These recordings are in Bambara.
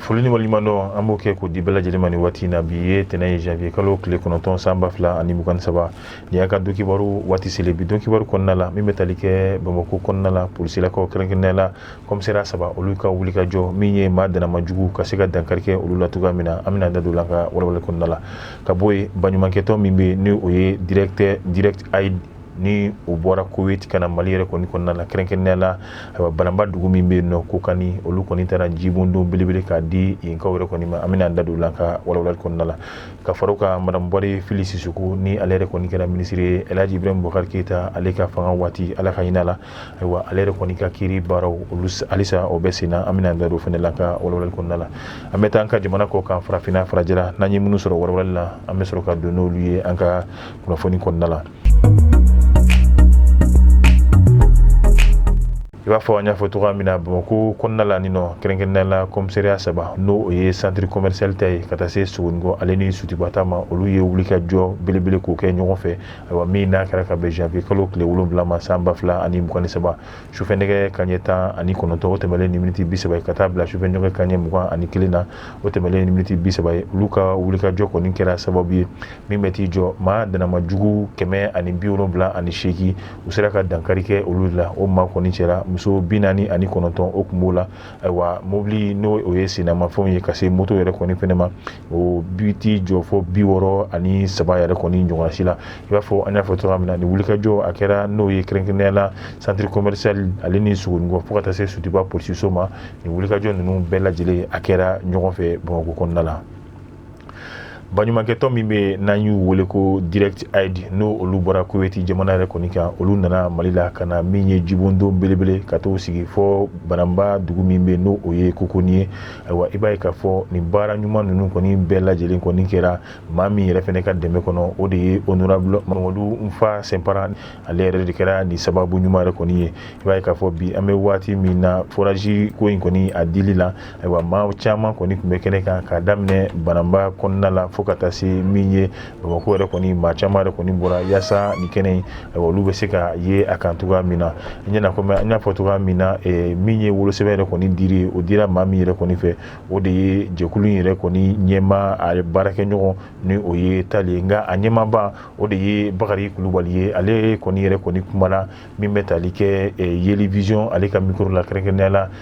foli ni waleɲumandɔn an b'o kɛ k'o di bɛɛ lajɛlen ma ni waati in na bi ye tɛnɛ ye janvier kalo tile kɔnɔntɔn san ba fila ani mugan ni saba nin y'an ka donkibaru waati selen bi donkibaru kɔnɔna la min bɛ tali kɛ bamakɔ kɔnɔna la polisilakaw kɛrɛnkɛrɛnnenya la kɔmisɛriya saba olu ka wulikajɔ min ye maa dannama jugu ka se ka dankari kɛ olu la cogoya min na an bɛna da don a la an ka walawalali kɔnɔna la ka bɔ yen baɲumankɛtɔn min bɛ yen ni o ye direct aid ni o bɔra koweti ka na mali yɛrɛ kɔni kɔnɔna la kɛrɛnkɛrɛnnenya la ayiwa bananba dugu min bɛ yen n'o kokani olu kɔni taara jibondon belebele k'a di yenkaw yɛrɛ kɔni ma an bɛna an da don a la an ka walawalali kɔnɔna la ka fara o kan madame buware fili sisɔkɔ ni ale yɛrɛ kɔni kɛra minisiri ye el hadji ibrahim bubakari keyita ale ka fanga waati ala ka hin'a la ayiwa ale yɛrɛ kɔni ka kiri baaraw olu halisa o bɛ sen na an bɛna an da don fana la an ka walawalali kɔnɔna la an bɛ taa an ka jamana kɔ kan farafinna farajɛla n'an ye minnu sɔrɔ walawalali la an bɛ sɔrɔ ka don n'olu ye an ka kunnafoni kɔnɔna la i b'a fɔ an y'a fɔ cogoya min na bamakɔ kɔnɔna la ni n'o kɛrɛnkɛrɛnnenya la kɔmisariya saba n'o o ye santiri kɔmɛrisali ta ye ka taa se sogonikɔ ale ni sotuba ta ma olu ye wulikajɔ belebele k'o kɛ ɲɔgɔn fɛ ayiwa min n'a kɛra ka bɛn janvier kalo tile wolonwula ma san ba fila ani mugan ni saba sufɛ nɛgɛ kaɲɛ tan ani kɔnɔntɔn o tɛmɛlen ni miniti bi saba ka taa bila sufɛ nɛgɛ kaɲɛ mugan ani kelen na o tɛmɛlen ni miniti bi saba ye olu ka wulikajɔ kɔni kɛra sababu ye min bɛ t'i jɔ maa dannama jugu kɛmɛ ani bi wolonwula ani seegin u sera ka dankari kɛ olu la o maa kɔni cɛla muso bi naani ani kɔnɔntɔn o tun b'o la ayiwa mobili n'o o ye sennamafɛnw ye ka se moto yɛrɛ kɔni fɛnɛ ma o bɛ t'i jɔ fɔ bi wɔɔrɔ ani saba yɛrɛ kɔni ɲɔgɔnna si la i b'a fɔ an y'a fɔ cogoya min na nin wulikajɔ a kɛra n'o ye kɛrɛnkɛrɛnnenya la centre commercial ale ni Sogonikɔ fo ka taa se Sotuba polisiso ma nin wulikajɔ ninnu bɛɛ lajɛlen a kɛra ɲɔgɔn fɛ Bamakɔ kɔnɔna la baɲumankɛtɔn min bɛ yen n'an y'u wele ko direct aid n'o olu bɔra kuweti jamana yɛrɛ kɔni kan olu nana mali la ka na min ye jibondon belebele ka t'o sigi fɔ bananba dugu min bɛ yen n'o o ye kokoni ye Ayiwa i b'a ye k'a fɔ nin baara ɲuman ninnu kɔni bɛɛ lajɛlen kɔni kɛra maa min yɛrɛ fana ka dɛmɛ kɔnɔ o de ye honorable mamadu nfa senpara ale yɛrɛ de kɛra nin sababu ɲuman yɛrɛ kɔni ye i b'a ye k'a fɔ bi an bɛ waati min na forage ko in kɔni a dili la ayiwa maa caman kɔni tun bɛ kɛnɛ kan ka daminɛ bananba kɔnɔna la fo ka taa se min ye bamakɔ yɛrɛ kɔni maa caman yɛrɛ kɔni bɔra yaasa nin kɛnɛ in olu bɛ se ka ye a kan cogoya min na ɲɛna kɔmi an y'a fɔ cogoya min na eh, min ye wolosɛbɛn yɛrɛ kɔni dili o dira maa min yɛrɛ kɔni fɛ o de ye jɛkulu in yɛrɛ kɔni ɲɛmaa baarakɛɲɔgɔn ni o ye tali ye nka a ɲɛmaaba o de ye bakari kulubali ye ale kɔni yɛrɛ kɔni kumana min bɛ tali kɛ eh, yeli vision ale ka mikoro la kɛrɛnkɛrɛnnenya la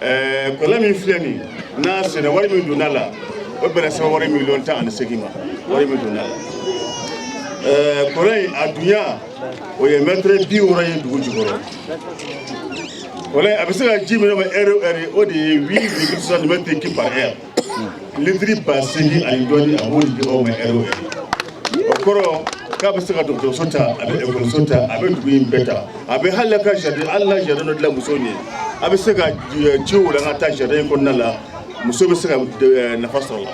ɛɛ kɔlɔn min filɛ nin n'a senna wari min donna la o bɛnna sefawari miliyɔn tan ani seegin ma wari min donna la ɛɛ kɔlɔn in a dunya o ye mɛtɛrɛ bi wɔɔrɔ ye dugu jukɔrɔ kɔlɔn in a bɛ se ka ji min d'aw ma ɛri o ɛri o de ye huit virgule soixante mètres cubes par heure litiri ba seegin ani dɔɔnin a b'o di aw ma ɛri o kɔrɔ k'a bɛ se ka dɔgɔtɔrɔso ta a bɛ ekɔliso ta a bɛ dugu in bɛɛ ta a bɛ hali ka jardin ala la jardin dɔ dilan musow ye a bɛ se ka ji walan ka taa jardin kɔnɔna la musow bɛ se ka nafa sɔrɔ la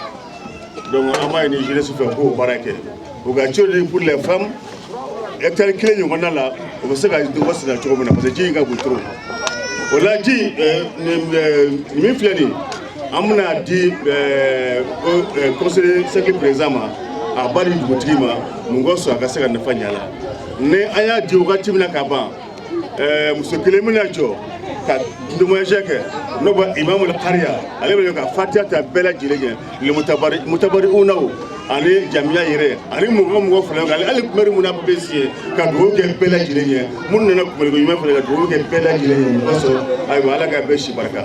donc an b'a ɲini jeunesse fɛ k'o baara kɛ u ka ci pour les femmes hectare kelen ɲɔgɔnna la u bɛ se ka dugu wasa cogo min na parce que ji in ka bon trop o la ji min filɛ nin an bɛna di eh, eh, conseil de cercle président ma a b'a di dugutigi ma mun ka sɔn a ka se ka nafa ɲa la ni an y'a di wagati min na ka ban eh, muso kelen bɛna jɔ ka témoignage kɛ n'o ban imamul kariya ale bɛ ka fatiya ta bɛɛ lajɛlen kɛ le mutabari mutabariunaw ani jamiya yɛrɛ ani mɔgɔ mɔgɔ fana kan hali kumari mun na bɛ si ye ka dugawu kɛ bɛɛ lajɛlen ye minnu nana kumaliko ɲuman fana ka dugawu kɛ bɛɛ lajɛlen ye mɔgɔ sɔrɔ ayiwa ala ka bɛɛ si barika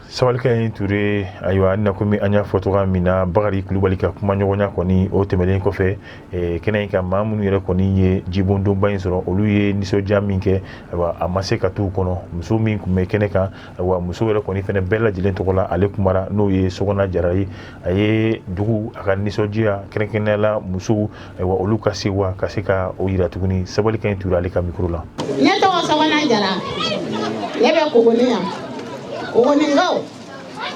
Sabalikaɲi Ture ayiwa na komi an y'a fɔ cogoya min na Bakari Kulubali ka kuma ɲɔgɔnya kɔni o tɛmɛnen kɔfɛ kɛnɛ in ka maa minnu yɛrɛ kɔni ye jibondonba in sɔrɔ olu ye nisɔndiya min kɛ ayiwa a ma se ka t'u kɔnɔ muso min tun bɛ kɛnɛ kan ayiwa musow yɛrɛ kɔni fana bɛɛ lajɛlen tɔgɔ la ale kumara n'o ye Sogona Jara ye a ye dugu a ka nisɔndiya kɛrɛnkɛrɛnnenya la musow ayiwa olu ka sewa ka se ka o yira tuguni Sabalikaɲi Ture ale ka mikoro la ne tɔgɔ Sogona Jara ne bɛ Kogoni yan Kogoninkaw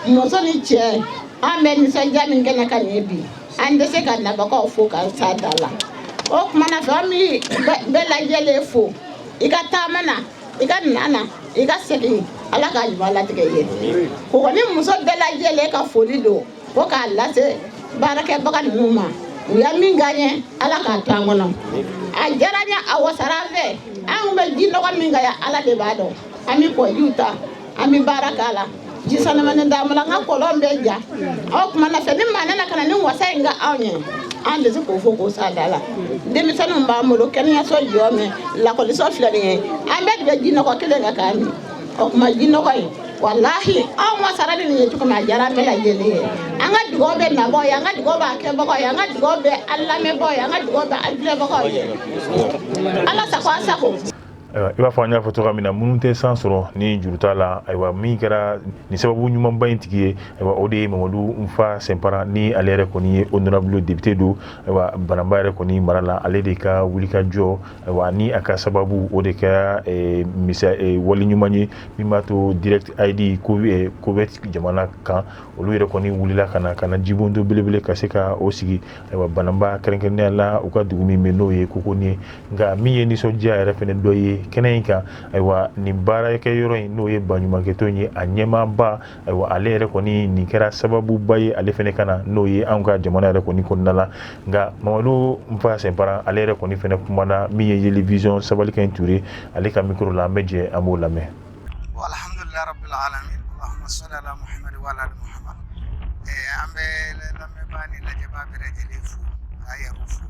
muso ni cɛ an bɛ nisɔndiya min kɛnɛ kan nin ye bi an tɛ se ka nabagaw fo k'a s'a da la o kuma na fɛ an bɛ bɛɛ lajɛlen fo i ka taama na i ka nana i ka segin ala k'a ɲuman latigɛ ye Kogoni muso bɛɛ lajɛlen ka foli don fo k'a lase baarakɛbaga ninnu ma u ye min k'an ye ala k'a to an kɔnɔ a diyara an ye a wasara an fɛ an tun bɛ ji nɔgɔ min kan yan ala de b'a dɔn an bɛ kɔjiw ta an bɛ baara k'a la ji sanumani t'an bolo an ka kɔlɔn bɛ ja o tuma na fɛ ni maa nana ka na nin wasa in k'anw ye an tɛ se k'o fɔ k'o s'a da la denmisɛnninw b'an bolo kɛnɛyaso jɔlen bɛ lakɔliso filɛ nin ye an bɛɛ de bɛ ji nɔgɔ kelen kan k'a min o tuma ji nɔgɔ in walahi anw wasara ni nin ye cogo min a diyara an bɛɛ lajɛlen ye an ka dugaw bɛ nabagaw ye an ka dugaw b'a kɛbagaw ye an ka dugaw bɛ an lamɛnbagaw ye an ka dugaw bɛ an filɛbagaw ye ala sago aw sago ayiwa i b'a fɔ an y'a fɔ cogoya min na minnu tɛ san sɔrɔ ni juru t'a la ayiwa min kɛra nin sababu ɲumanba in tigi ye ayiwa o de ye mamadu nfa sɛnpara ni ale yɛrɛ kɔni ye honorable député don ayiwa bananba yɛrɛ kɔni mara la ale de ka wulikajɔ ayiwa ni a ka sababu o de kɛra eh, misa eh, wali ɲuman ye min b'a to direct aid ko eh, koweït jamana kan olu yɛrɛ kɔni wulila ka na ka na jibondo belebele ka se ka o sigi Ayiwa bananba kɛrɛnkɛrɛnnenya la u ka dugu min bɛ n'o ye Kokonin ye nka min ye nisɔndiya yɛrɛ fana dɔ ye kɛnɛ in kan ayiwa nin baarakɛ yɔrɔ in n'o ye baɲumankɛ tɔn in ye a ɲɛmaaba ayiwa ale yɛrɛ kɔni nin kɛra sababuba ye ale fana ka na n'o ye anw ka jamana yɛrɛ kɔni kɔnɔna la nka Mamadu Nfa Sɛnpara ale yɛrɛ kɔni fana kumana min ye Yeli Vision Sabalikaɲi Ture ale ka micro la an bɛ jɛ an b'o lamɛn. Alhamdulila rabili alamin Allahumma sali ala Muhamadu wa ala ali Muhamadu ɛɛ an bɛ lamɛnbaa ni lajɛbaa bɛɛ lajɛlen fo k'aw yɛrɛw fo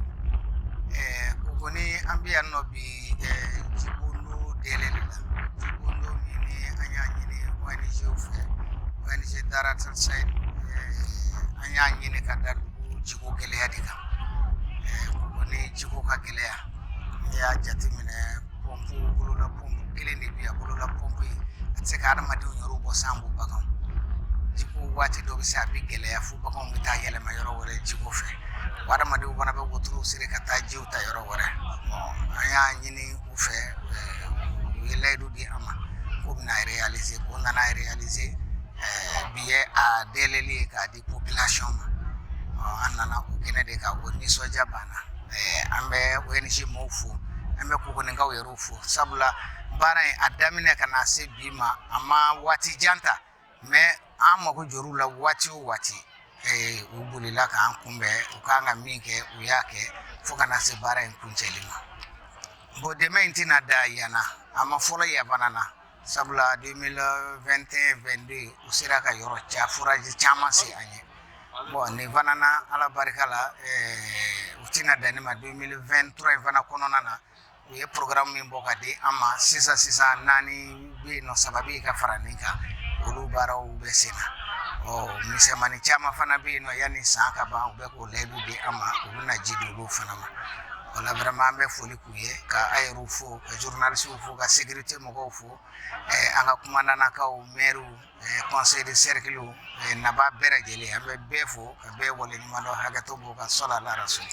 ɛɛ ko kɔni an bɛ yan nɔ bi ɛɛ jibondo dayɛlɛli la jibondo min ni an y'a ɲini ONG-w fɛ ONG Direct Aid ɛɛ an y'a ɲini ka da dugu jiko gɛlɛya de kan ɛɛ ko kɔni jiko ka gɛlɛn yan n'i y'a jateminɛ pɔnpu bolola pɔnpu kelen de bi yan bolola pɔnpu in a tɛ se ka adamadenw yɔrɔ bɔ sanko bagan jiko waati dɔ bɛ se a bɛ gɛlɛya fo baganw bɛ taa yɛlɛma yɔrɔ wɛrɛ jiko fɛ wa adamadenw fana bɛ wotoro siri ka taa jiw ta yɔrɔ wɛrɛ an y'a ɲini u fɛ u ye layidu di an ma k'u bɛn'a réaliser ko nana réaliser bi ye a dayɛlɛli k'a di Population ma ɔɔ an nana o kɛnɛ de kan o nisɔndiya b'an na ɛɛ an bɛ ONG mɔɔw fo an bɛ Kokoninkaw yɛrɛw fo sabula baara in a daminɛ ka n'a se bi ma a ma waati jan ta mais an mago jɔr'u la waati o waati ee u bolila k'an kunbɛn u ka kan ka min kɛ u y'a kɛ fo ka na se baara in kuncɛli ma bon dɛmɛ in tɛna dan yan na a ma fɔlɔ yan fana na Sabula 2021-22 u sera ka yɔrɔ ca forage caman sen an ye bon nin fana na ala barika la u tɛna dan nin ma 2023 in fana kɔnɔna na u ye programme min bɔ ka di an ma sisan sisan naani bɛ nɔ saba bɛ ka fara nin kan olu baaraw bɛ sen na ɔ misɛnmannin caman fana bɛ yen nɔ yanni san ka ban u bɛ k'o layidu di an ma u bɛ na ji di olu fana ma voilà vraiment an bɛ foli u ye ka aw yɛrɛw fo ka journalistew fo ka sécurité mɔgɔw fo an ka kumandannakaw maire conseil de cercle nabaa bɛɛ lajɛlen an bɛ bɛɛ fo ka bɛɛ waleɲumandɔn hakɛto b'o kan sɔla la rasul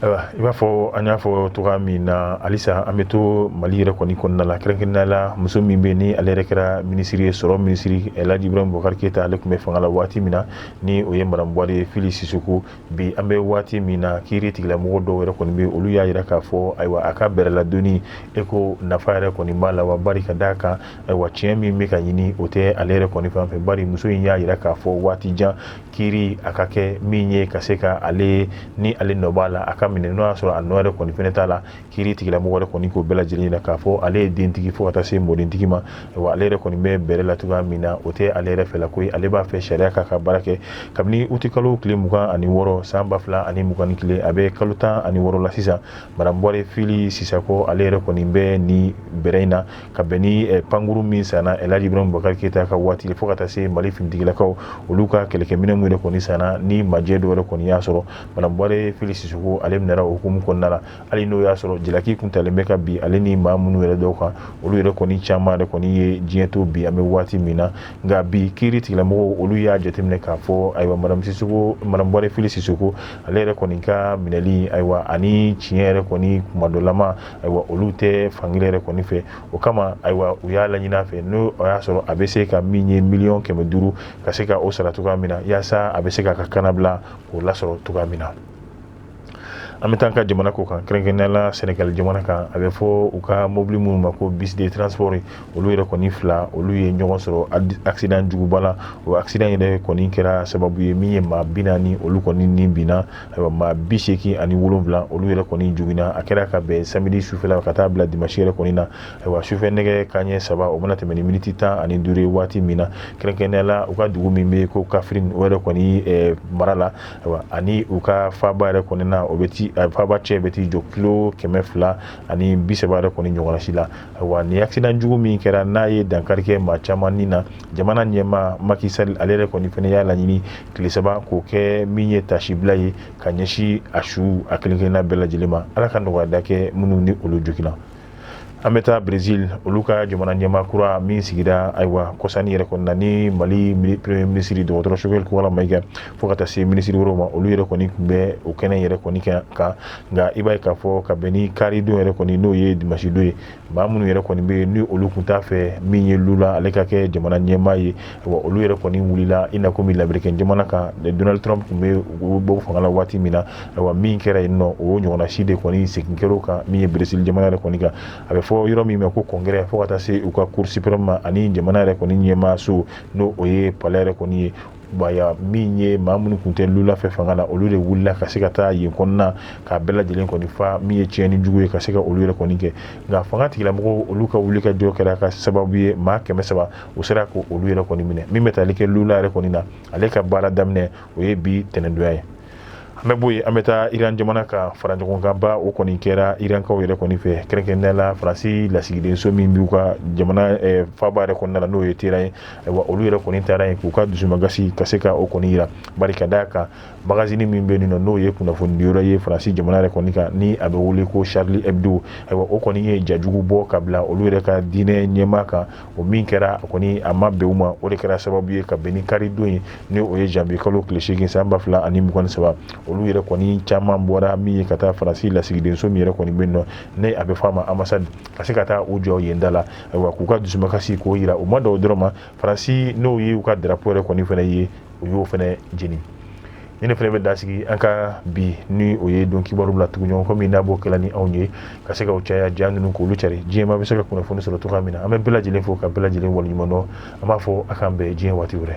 ayiwa i b'a fɔ an y'a fɔ cogoya min na halisa an bɛ to mali yɛrɛ kɔni kɔnɔna la kɛrɛnkɛrɛnnenya la muso min bɛ ni ale yɛrɛ kɛra minisiri ye sɔrɔ minisiri laji ibrahim bubakari keyita ale tun bɛ fanga la waati min na ni o ye madamu buware fili sisoko bi an bɛ waati min na kiiri tigilamɔgɔ dɔw yɛrɛ kɔni bɛ olu y'a jira k'a fɔ ayiwa a ka bɛrɛladonni e ko nafa yɛrɛ kɔni b'a la wa bari ka d'a kan ayiwa tiɲɛ min bɛ ka ɲini o tɛ ale yɛrɛ kɔni fan fɛ bari muso in y'a jira k'a fɔ waati jan kiiri a ka kɛ min ye ka se ka ale ni ale nɔ b'a la a ka minɛ n'o y'a sɔrɔ a nɔ yɛrɛ kɔni fɛnɛ t'a la kiiri tigilamɔgɔ kɔni k'o bɛɛ lajɛlen yira k'a fɔ ale ye dentigi fo ka taa se mɔdentigi ma wa ale yɛrɛ kɔni bɛ bɛrɛ la cogoya min na o tɛ ale yɛrɛ fɛ la ko ale b'a fɛ sariya k'a ka baara kɛ kabini uti kalo tile mugan ani wɔɔrɔ san ba fila ani mugan ni kelen a bɛ kalo tan ani wɔɔrɔ la sisan madame buware fili sisoko ale yɛrɛ kɔni bɛ ni bɛrɛ in na ka bɛn ni eh, pankuru min sanna elhaji ibrahim bubakari keyita ka waati fo ka taa se mali finitigilakaw olu ka kɛlɛkɛminɛn minnu yɛrɛ kɔni sanna ni majɛ dɔw yɛrɛ kɔni y'a sɔrɔ madame buware fili sisoko ale minɛra o hukumu kɔnɔna la hali n'o y'a sɔrɔ jalaki kun talen bɛ ka bin ale ni maa minnu yɛrɛ dɔw kan olu yɛrɛ kɔni caman yɛrɛ kɔni ye diɲɛ to bi an bɛ waati min na nka bi kiiri tigilamɔgɔw olu y'a jateminɛ k'a fɔ ayiwa madame sisoko madame buware fili sisoko ale yɛrɛ kɔni ka minɛli ayiwa ani tiɲɛ yɛrɛ kɔni kumadɔlama ayiwa olu tɛ fankelen yɛrɛ kɔni fɛ o kama ayiwa u y'a laɲini a fɛ n'o y'a sɔrɔ a bɛ se ka min ye miliyɔn kɛmɛ duuru ka se ka o sara cogoya min na yaasa a bɛ se k'a ka kannabila k'o lasɔrɔ cogoya min na an bɛ taa ka jamana kɔkan kɛrɛnkɛrɛnnenya la senegali jamana kan a bɛ fɔ u ka mobili minnu ma ko bus de transport olu yɛrɛ kɔni fila olu ye ɲɔgɔn sɔrɔ accident juguba la o accident yɛrɛ kɔni kɛra sababu ye min ye maa bi naani olu kɔni ni binna maa bi seegin ani wolowula olu yɛrɛ kɔni jogina a kɛra ka bɛn samedi sufɛla ka taa bila dimansi yɛrɛ kɔni na ayiwa sufɛ nɛgɛ kanɲɛ saba o mana tɛmɛ ni miniti tan ani duuru ye waati min na kɛrɛnkɛrɛnnenya la u ka dugu min bɛ ko kaffrine o yɛrɛ kɔni mara la ani u ka faaba yɛrɛ kɔni na o bɛ faaba cɛ bɛ t'i jɔ kilo kɛmɛ fila ani bi saba yɛrɛ kɔni ɲɔgɔnna si la wa ni accident jugu min kɛra n'a ye dankari kɛ maa caman ni na jamana ɲɛmaa macky sall ale yɛrɛ kɔni fɛnɛ y'a laɲini tile saba k'o kɛ min ye tasibila ye ka ɲɛsin a su a kelenkelenna bɛɛ lajɛlen ma ala ka nɔgɔya da kɛ minnu ni olu jogina an bɛ taa brésil olu ka jamana ɲɛmaa kura min sigira ayiwa kɔsa in yɛrɛ kɔni na ni mali premier minisiri dɔgɔtɔrɔ choguel kokala mayiga fo ka taa se minisiri wɛrɛw ma olu yɛrɛ kɔni tun bɛ o kɛnɛ yɛrɛ kɔni kan kan nka i b'a ye k'a fɔ ka bɛn ni karidon yɛrɛ kɔni n'o ye dimansidon ye maa minnu yɛrɛ kɔni bɛ yen ni olu tun t'a fɛ min ye lula ale ka kɛ jamana ɲɛmaa ye olu yɛrɛ kɔni wulila i na kɔmi lameriki jamana kan donald trump bɛ bɔ fanga la waati min na a min kɛra yen nɔ o ɲɔgɔnna si de kɔni segin kɛr'o kan min ye brésil jamana yɛrɛ kɔni kan a bɛ fɔ yɔrɔ min ma ko congrès fo ka taa se u ka cour suprême ma ani jamana yɛrɛ kɔni ɲɛmaaso n'o o ye palais yɛrɛ kɔni ye bayayaa min ye maa minnu tun tɛ lula fɛ fanga la olu de wulila ka se ka taa yen kɔnɔna k'a bɛɛ lajɛlen kɔni fa min ye tiɲɛni jugu ye ka se ka olu yɛrɛ kɔni kɛ nka fanga tigilamɔgɔw olu ka wuli ka jɔ kɛra ka sababu ye maa kɛmɛ saba u sera ko olu yɛrɛ kɔni minɛ min bɛ tali kɛ lula yɛrɛ kɔni na ale ka baara daminɛ o ye bi tɛnɛndonya ye an bɛ bɔ yen an bɛ taa iran jamana ka fara ɲɔgɔn kan ba o kɔni kɛra irankaw yɛrɛ kɔni fɛ kɛrɛnkɛrɛnnenya la faransi lasigidenso min b'u ka jamana eh, faaba yɛrɛ kɔnɔna la n'o ye teheran ye ayiwa olu yɛrɛ kɔni taara yen k'u ka dusumagasi ka se ka o kɔni yira bari ka d'a kan magazini min bɛ yen nɔ n'o ye kunnafoni diyɔrɔ ye faransi jamana yɛrɛ kɔni kan ni a bɛ wele ko charlie hebdo ayiwa o kɔni ye ja jugu bɔ ka bila olu yɛrɛ ka diinɛ ɲɛmaa kan o min kɛra kɔni a ma bɛn u ma o de kɛra sababu ye ka bɛn ni karidon ye ni o ye janvier kalo tile segin san ba fila ani mugan saba olu yɛrɛ kɔni caman bɔra min ye ka taa faransi lasigidenso min yɛrɛ kɔni bɛ yen nɔ ni a bɛ fɔ a ma ambassade ka se ka taa u jɔ yen da la ayiwa k'u ka dusumakasi k'o yira u ma dan o dɔrɔn ma faransi n'o ye u ka drapeau yɛrɛ kɔni fɛnɛ ye u y'o fɛnɛ jeni ni ne fɛnɛ bɛ dasigi an ka bi ni o ye don kibaru la tuguɲɔgɔn kɔmi n'a b'o kɛla ni anw ye ka se ka o caya ja ninnu k'olu cari diɲɛmaa bɛ se ka kunnafoni sɔrɔ cogoya min na an bɛ bɛɛ lajɛlen fo ka bɛɛ lajɛlen waleɲumandɔn an b'a fɔ a k'an bɛn diɲɛ waati wɛrɛ